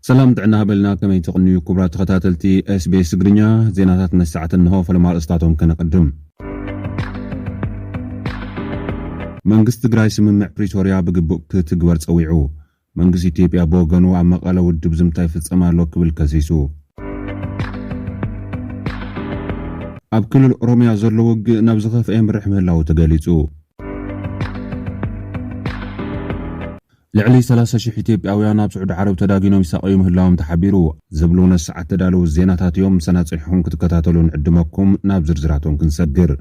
ሰላም ጥዕና ሃበልና ከመይ ትቕንዩ ክቡራ ተኸታተልቲ ስቤስ ትግርኛ ዜናታት መሰዕት እንሆ ፈለማ ርእስታቶም ከነቐድም መንግስቲ ትግራይ ስምምዕ ፕሪቶርያ ብግቡእ ክትግበር ፀዊዑ መንግስቲ ኢትዮጵያ ብወገኑ ኣብ መቐለ ውድብ ዝምታ ይፍፀም ኣሎ ክብል ከሲሱ። ኣብ ክልል ኦሮሚያ ዘሎ ውግእ ናብ ዝኸፍኣ የምርሕ ምህላዉ ተገሊጹ። ልዕሊ ሰላሳ ሽሕ ኢትዮጵያውያን ኣብ ስዑዲ ዓረብ ተዳጊኖም ይሳቐዩ ምህላዎም ተሓቢሩ። ዝብሉ ነዚ ሰዓት ዝተዳለዉ ዜናታት እዮም። ምሳና ጸኒሕኩም ክትከታተሉ ንዕድመኩም። ናብ ዝርዝራቶም ክንሰግር።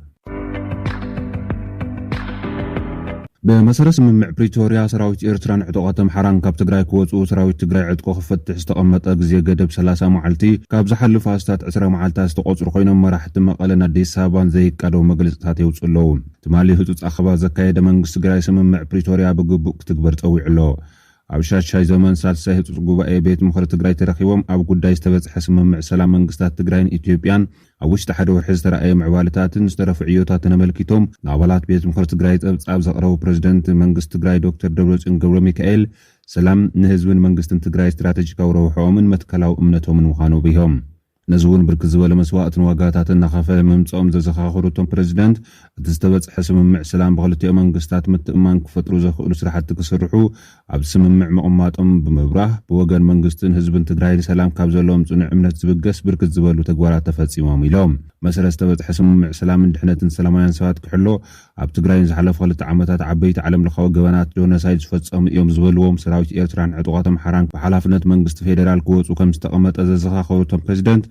ብመሰረት ስምምዕ ፕሪቶርያ ሰራዊት ኤርትራን ዕጡቓት ኣምሓራን ካብ ትግራይ ክወፅኡ ሰራዊት ትግራይ ዕጥቁ ክፈትሕ ዝተቐመጠ ግዜ ገደብ ሰላሳ መዓልቲ ካብ ዝሓልፍ ኣስታት ዕስራ መዓልታት ዝተቖፅሩ ኮይኖም መራሕቲ መቐለን ኣዲስ ኣበባን ዘይቃደው መግለፅታት የውፅኡ ኣለዉ። ትማሊ ህፁፅ ኣኸባ ዘካየደ መንግስቲ ትግራይ ስምምዕ ፕሪቶርያ ብግቡእ ክትግበር ፀዊዑ ኣሎ። ኣብ ሻድሻይ ዘመን ሳልሳይ ህፁፅ ጉባኤ ቤት ምኽሪ ትግራይ ተረኺቦም ኣብ ጉዳይ ዝተበፅሐ ስምምዕ ሰላም መንግስታት ትግራይን ኢትዮጵያን ኣብ ውሽጢ ሓደ ወርሒ ዝተራእየ ምዕባለታትን ዝተረፉ ዕዮታትን ኣመልኪቶም ንኣባላት ቤት ምኽሪ ትግራይ ፀብፃብ ዘቕረቡ ፕረዚደንት መንግስቲ ትግራይ ዶክተር ደብረፅዮን ገብረሚካኤል ሰላም ንህዝብን መንግስትን ትግራይ ስትራተጂካዊ ረብሐኦምን መትከላዊ እምነቶምን ምዃኑ ኣብሪሆም። ነዚ እውን ብርክት ዝበለ መስዋእትን ዋጋታትን እናኸፈለ ምምፅኦም ዘዘኻኸሩ እቶም ፕረዚደንት እቲ ዝተበፅሐ ስምምዕ ሰላም ብክልቲኦም መንግስታት ምትእምማን ክፈጥሩ ዘኽእሉ ስራሕቲ ክስርሑ ኣብ ስምምዕ ምቕማጦም ብምብራህ፣ ብወገን መንግስትን ህዝብን ትግራይ ንሰላም ካብ ዘለዎም ፅኑዕ እምነት ዝብገስ ብርክት ዝበሉ ተግባራት ተፈፂሞም ኢሎም። መሰረት ዝተበፅሐ ስምምዕ ሰላምን ድሕነትን ሰላማውያን ሰባት ክሕሎ፣ ኣብ ትግራይ ንዝሓለፉ ክልተ ዓመታት ዓበይቲ ዓለም ለኻዊ ገበናት ጆነሳይድ ዝፈፀሙ እዮም ዝበልዎም ሰራዊት ኤርትራን ዕጡቓት ኣምሓራን ብሓላፍነት መንግስቲ ፌደራል ክወፁ ከምዝተቐመጠ ዘዘኻኸሩ እቶም ፕረዚደንት፣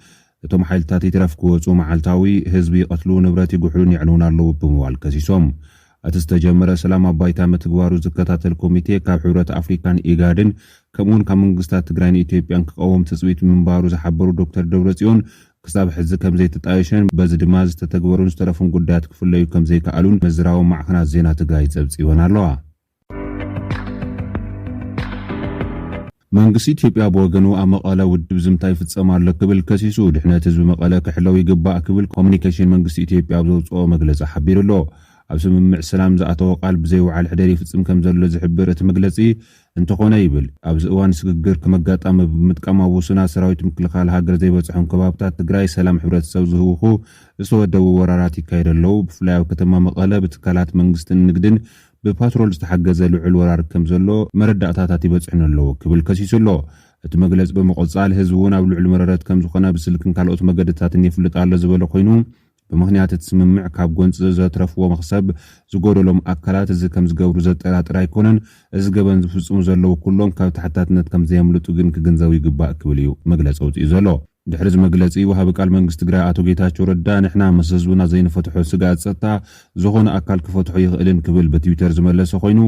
እቶም ሓይልታት ይትረፍ ክወጹ መዓልታዊ ህዝቢ ይቐትሉ፣ ንብረት ይጉሕሉን የዕንዉን ኣለዉ ብምባል ከሲሶም። እቲ ዝተጀመረ ሰላም ኣብ ባይታ ምትግባሩ ዝከታተል ኮሚቴ ካብ ሕብረት ኣፍሪካን ኢጋድን ከምኡ'ውን ካብ መንግስታት ትግራይን ኢትዮጵያን ክቐውም ትፅቢት ምንባሩ ዝሓበሩ ዶክተር ደብረፅዮን ክሳብ ሕዚ ከምዘይተጣየሸን በዚ ድማ ዝተተግበሩን ዝተረፉን ጉዳያት ክፍለዩ ከምዘይከኣሉን መዝራዊ ማዕኸናት ዜና ትግራይ ፀብፂበን ኣለዋ። መንግስቲ ኢትዮጵያ ብወገኑ ኣብ መቐለ ውድብ ዝምታ ይፍፀም ኣሎ ክብል ከሲሱ። ድሕነት ህዝቢ መቐለ ክሕለው ይግባእ ክብል ኮሙኒኬሽን መንግስቲ ኢትዮጵያ ኣብ ዘውፅኦ መግለፂ ሓቢሩ ኣሎ። ኣብ ስምምዕ ሰላም ዝኣተዎ ቃል ብዘይወዓል ሕደር ይፍፅም ከምዘሎ ዝሕብር እቲ መግለፂ እንተኾነ ይብል ኣብዚ እዋን ስግግር ከም ኣጋጣሚ ብምጥቃም ኣብ ውሱናት ሰራዊት ምክልኻል ሃገር ዘይበፅሖም ከባብታት ትግራይ ሰላም ሕብረተሰብ ዝህውኹ ዝተወደቡ ወራራት ይካየዱ ኣለው። ብፍላይ ኣብ ከተማ መቐለ ብትካላት መንግስትን ንግድን ብፓትሮል ዝተሓገዘ ልዑል ወራር ከም ዘሎ መረዳእታታት ይበጽሑኒ ኣለዉ ክብል ከሲሱ ኣሎ። እቲ መግለጺ ብምቕጻል፣ ህዝቢ እውን ኣብ ልዑል መረረት ከም ዝኾነ ብስልክን ካልኦት መገድታትን የፍልጥ ኣሎ ዝበለ ኮይኑ፣ ብምኽንያት እቲ ስምምዕ ካብ ጎንጺ ዘትረፍዎ መኽሰብ ዝጎደሎም ኣካላት እዚ ከም ዝገብሩ ዘጠራጥር ኣይኮነን፣ እዚ ገበን ዝፍጽሙ ዘለዉ ኩሎም ካብ ተሓታትነት ከም ዘየምልጡ ግን ክግንዘቡ ይግባእ ክብል እዩ መግለጺ ኣውጺኡ ዘሎ። ድሕሪ እዚ መግለፂ ወሃቢ ቃል መንግስቲ ትግራይ ኣቶ ጌታቸው ረዳ ንሕና ምስ ህዝብና ዘይንፈትሖ ስግኣት ፀጥታ ዝኾነ ኣካል ክፈትሖ ኣይኽእልን ክብል ብትዊተር ዝመለሰ ኮይኑ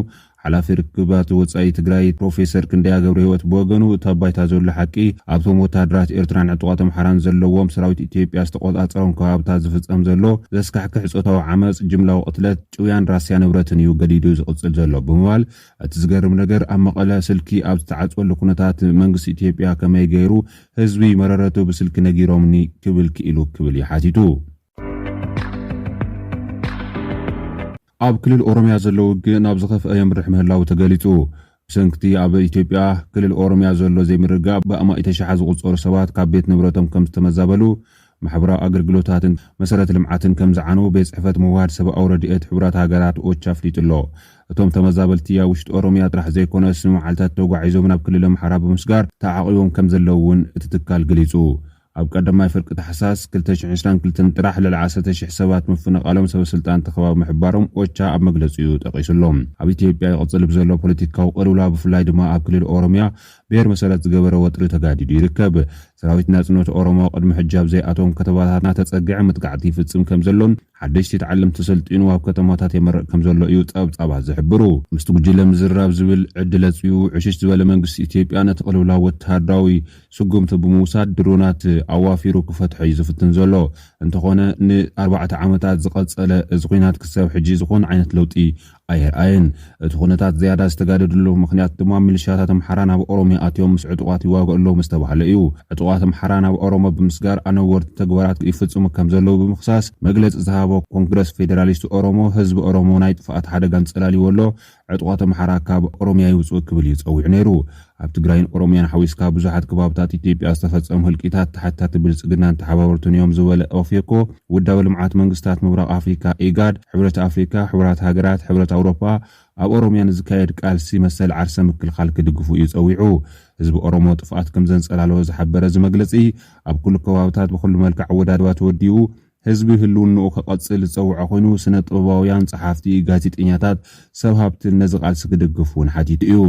ሓላፊ ርክባት ወፃኢ ትግራይ ፕሮፌሰር ክንደያ ገብረህይወት ብወገኑ እቲ ኣብ ባይታ ዘሎ ሓቂ ኣብቶም ወታሃደራት ኤርትራን ዕጡቓት ኣምሓራን ዘለዎም ሰራዊት ኢትዮጵያ ዝተቖፃፀሮም ከባብታት ዝፍፀም ዘሎ ዘስካሕክሕ ፆታዊ ዓመፅ፣ ጅምላዊ ቕትለት፣ ጭውያን ራስያ ንብረትን እዩ ገዲዱ ዝቕፅል ዘሎ ብምባል እቲ ዝገርም ነገር ኣብ መቐለ ስልኪ ኣብ ዝተዓፅወሉ ኩነታት መንግስቲ ኢትዮጵያ ከመይ ገይሩ ህዝቢ መረረቱ ብስልኪ ነጊሮምኒ ክብል ክኢሉ ክብል እዩ ሓቲቱ። ኣብ ክልል ኦሮምያ ዘሎ ውግእ ናብ ዝኸፍአ የምርሕ ምህላዉ ተገሊጹ። ብሰንኪ'ቲ ኣብ ኢትዮጵያ ክልል ኦሮምያ ዘሎ ዘይምርግጋእ ብኣማኢተ ሽሓት ዝቑጸሩ ሰባት ካብ ቤት ንብረቶም ከም ዝተመዛበሉ ማሕበራዊ ኣገልግሎታትን መሰረተ ልምዓትን ከም ዝዓነዉ ቤት ፅሕፈት ምውህሃድ ሰብኣዊ ረድኤት ሕቡራት ሃገራት፣ ኦቻ፣ ኣፍሊጡ ኣሎ። እቶም ተመዛበልቲ ኣብ ውሽጢ ኦሮሚያ ጥራሕ ዘይኮነስ ንመዓልታት ተጓዒዞም ናብ ክልል ኣምሓራ ብምስጋር ተዓቚቦም ከም ዘለዉ እውን እቲ ትካል ገሊፁ። ኣብ ቀዳማይ ፍርቂ ታሕሳስ ክልተ ሽሕ ዕስራን ክልተን ጥራሕ ልዕሊ ዓሰርተ ሽሕ ሰባት ምፍንቓሎም ሰበ ስልጣን እቲ ከባቢ ምሕባሮም ኦቻ ኣብ መግለፂኡ ጠቒሱ ኣሎ። ኣብ ኢትዮጵያ ይቕፅል ብዘሎ ፖለቲካዊ ቅልውላው ብፍላይ ድማ ኣብ ክልል ኦሮሚያ ብሄር መሰረት ዝገበረ ወጥሪ ተጋዲዱ ይርከብ። ሰራዊት ናጽነት ኦሮሞ ቅድሚ ሕጂ ኣብ ዘይኣተዎም ከተማታት እናተጸግዐ መጥቃዕቲ ይፍጽም ከም ዘሎን ሓደሽቲ ተዓለምቲ ሰልጢኑ ኣብ ከተማታት የመርቕ ከም ዘሎ እዩ ጸብጻባት ዝሕብሩ። ምስቲ ጉጅለ ምዝራብ ዝብል ዕድል ኣጽቢቡ ዕሽሽ ዝበለ መንግስቲ ኢትዮጵያ ነቲ ቅልውላው ወተሃደራዊ ስጉምቲ ብምውሳድ ድሮናት ኣዋፊሩ ክፈትሖ እዩ ዝፍትን ዘሎ። እንተኾነ ን ኣርባዕተ ዓመታት ዝቐጸለ እዚ ኲናት ክሳብ ሕጂ ዝኾነ ዓይነት ለውጢ ኣይርኣየን። እቲ ኩነታት ዝያዳ ዝተጋደደሉ ምኽንያት ድማ ሚሊሽያታት ኣምሓራ ናብ ኦሮሚያ ኣትዮም ምስ ዕጡቓት ይዋግኡ ኣለዉ ምስ ተባህለ እዩ። ዕጡቓት ኣምሓራ ናብ ኦሮሞ ብምስጋር ኣነወርቲ ተግባራት ይፍፅሙ ከም ዘለዉ ብምኽሳስ መግለፂ ዝሃቦ ኮንግረስ ፌደራሊስት ኦሮሞ ህዝቢ ኦሮሞ ናይ ጥፍኣት ሓደጋ ኣንፀላሊዎ ኣሎ፣ ዕጡቓት ኣምሓራ ካብ ኦሮሚያ ይውፅኡ ክብል እዩ ፀዊዑ ነይሩ። ኣብ ትግራይን ኦሮሚያን ሓዊስካ ብዙሓት ከባብታት ኢትዮጵያ ዝተፈፀሙ ህልቂታት ተሓታቲ ብልፅግናን ተሓባበርቱን እዮም ዝበለ ኦፌኮ፣ ውዳበ ልምዓት መንግስታት ምብራቕ ኣፍሪካ፣ ኢጋድ፣ ሕብረት ኣፍሪካ፣ ሕቡራት ሃገራት፣ ሕብረት ኣውሮፓ ኣብ ኦሮሚያ ንዝካየድ ቃልሲ መሰል ዓርሰ ምክልኻል ክድግፉ እዩ ፀዊዑ። ህዝቢ ኦሮሞ ጥፍኣት ከምዘንፀላለወ ዝሓበረ እዚ መግለፂ፣ ኣብ ኩሉ ከባብታት ብኹሉ መልክዕ ኣወዳድባ ተወዲኡ፣ ህዝቢ ህልውንኡ ከቐፅል ዝፀውዐ ኮይኑ ስነ ጥበባውያን፣ ፀሓፍቲ፣ ጋዜጠኛታት፣ ሰብ ሃብትን ነዚ ቃልሲ ክድግፍ እውን ሓቲቱ እዩ።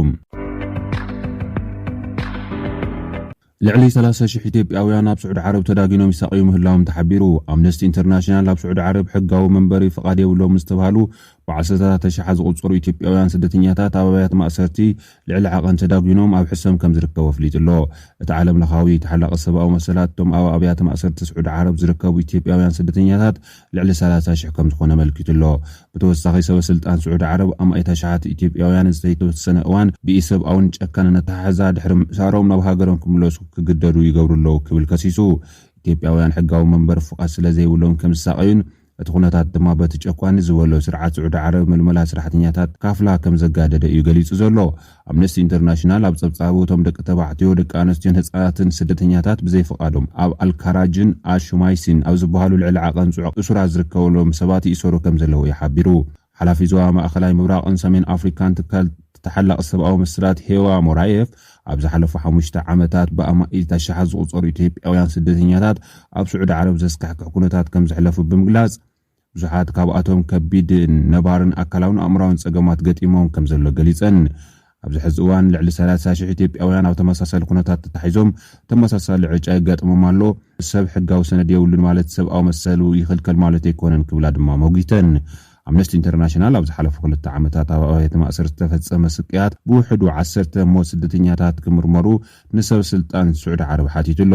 ልዕሊ ሰላሳ ሽሕ ኢትዮጵያውያን ኣብ ስዑዲ ዓረብ ተዳጊኖም ይሳቐዩ ምህላዎም ተሓቢሩ። ኣምነስቲ ኢንተርናሽናል ኣብ ስዑዲ ዓረብ ሕጋዊ መንበሪ ፍቓድ የብሎምን ዝተብሃሉ ብዓሰርተታት ኣሽሓት ዝቑፀሩ ኢትዮጵያውያን ስደተኛታት ኣብ ኣብያተ ማእሰርቲ ልዕሊ ዓቐን ተዳጒኖም ኣብ ሕሰም ከም ዝርከቡ ኣፍሊጡ'ሎ። እቲ ዓለምለኻዊ ተሓላቒ ሰብኣዊ መሰላት፣ እቶም ኣብ ኣብያተ ማእሰርቲ ስዑዲ ዓረብ ዝርከቡ ኢትዮጵያውያን ስደተኛታት ልዕሊ ሰላሳ ሽሕ ከም ዝኾኑ ኣመልኪቱ'ሎ። ብተወሳኺ ሰበ ስልጣን ስዑዲ ዓረብ፣ ኣማኢት ኣሽሓት ኢትዮጵያውያን ንዝተይተወሰነ እዋን ብኢ-ሰብኣውን ጨካንን ኣተሓሕዛ ድሕሪ ምእሳሮም ናብ ሃገሮም ክምለሱ ክግደዱ ይገብሩ ኣለዉ ክብል ከሲሱ። ኢትዮጵያውያን ሕጋዊ መንበሪ ፍቓድ ስለ ዘይብሎም ከም ዝሳቐዩን፣ እቲ ኩነታት ድማ በቲ ጨቋኒ ዝበሎ ስርዓት ስዑዲ ዓረብ ምልመላ ስራሕተኛታት ካፍላ ከም ዘጋደደ እዩ ገሊጹ ዘሎ። ኣምነስቲ ኢንተርናሽናል ኣብ ጸብጻቡ እቶም ደቂ ተባዕትዮ፣ ደቂ ኣነስትዮን ህጻናትን ስደተኛታት ብዘይፍቓዶም ኣብ ኣልካራጅን ኣሹማይሲን ኣብ ዝበሃሉ ልዕሊ ዓቐን ጽዑቕ እሱራት ዝርከበሎም ሰባት ይእሰሩ ከም ዘለዉ እዩ ሓቢሩ። ሓላፊ ዞባ ማእከላይ ምብራቕን ሰሜን ኣፍሪካን ትካል ተሓላቒ ሰብኣዊ መሰላት ሄዋ ሞራየፍ ኣብ ዝሓለፉ ሓሙሽተ ዓመታት ብኣማኢት ኣሽሓት ዝቑፀሩ ኢትዮጵያውያን ስደተኛታት ኣብ ስዑዲ ዓረብ ዘስካሕክሕ ኩነታት ከምዘሕለፉ ብምግላፅ ብዙሓት ካብኣቶም ከቢድ ነባርን ኣካላውን ኣእምራውን ፀገማት ገጢሞም ከምዘሎ ገሊፀን። ኣብዚ ሕዚ እዋን ልዕሊ ሰላሳ ሽሕ ኢትዮጵያውያን ኣብ ተመሳሳሊ ኩነታት ተታሒዞም ተመሳሳሊ ዕጫ የጋጥሞም ኣሎ። ሰብ ሕጋዊ ሰነድ የብሉን ማለት ሰብኣዊ መሰሉ ይኽልከል ማለት ኣይኮነን ክብላ ድማ ሞጒተን። ኣምነስቲ ኢንተርናሽናል ኣብ ዝሓለፉ ክልተ ዓመታት ኣብ ኣብያተ ማእሰርቲ ዝተፈጸመ ስቅያት ብውሕዱ ዓሰርተ ሞት ስደተኛታት ክምርመሩ ንሰብ ስልጣን ስዑዲ ዓረብ ሓቲቱ ኣሎ።